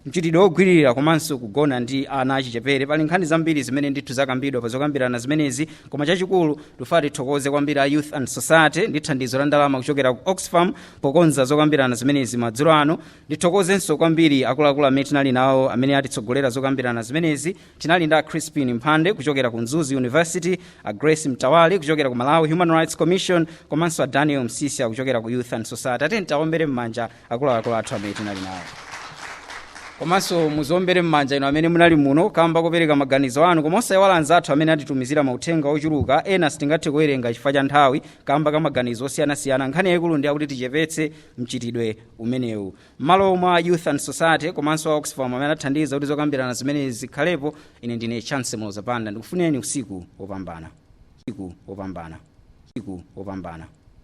mchitidwe wogwiririra komanso kugona ndi ana achichepere pali nkhani zambiri zimene ndithu zakambidwa pa zokambirana zimenezi koma chachikulu tufati tithokoze kwambiri a youth and society ndi thandizo la ndalama kuchokera ku oxfam pokonza zokambirana zimenezi madzulo ano ndithokozenso kwambiri akuluakulu amene tinali nawo amene atitsogolera zokambirana zimenezi tinali ndi a crispin mphande kuchokera ku mzuzu university a grace mtawali kuchokera ku malawi human rights commission komanso a daniel msisya kuchokera ku youth and society tiyeni tiombere m'manja akuluakulu athu amene tinali nawo komanso muziombere m'manja inu amene munali muno kamba kopereka maganizo anu komanso osayiwala anzathu amene atitumizira mauthenga ochuluka ena sitingathe kuwerenga chifukwa cha nthawi kamba ka maganizo osiyanasiyana nkhani yayikulu ndi yakuti tichepetse mchitidwe umenewu m'malo mwa youth and society komanso a oxfam amene athandiza kuti zokambirana zimenezi zikhalepo ine ndine chancy muloza panda ndikufunireni usiku wopambana usiku wopambana usiku wopambana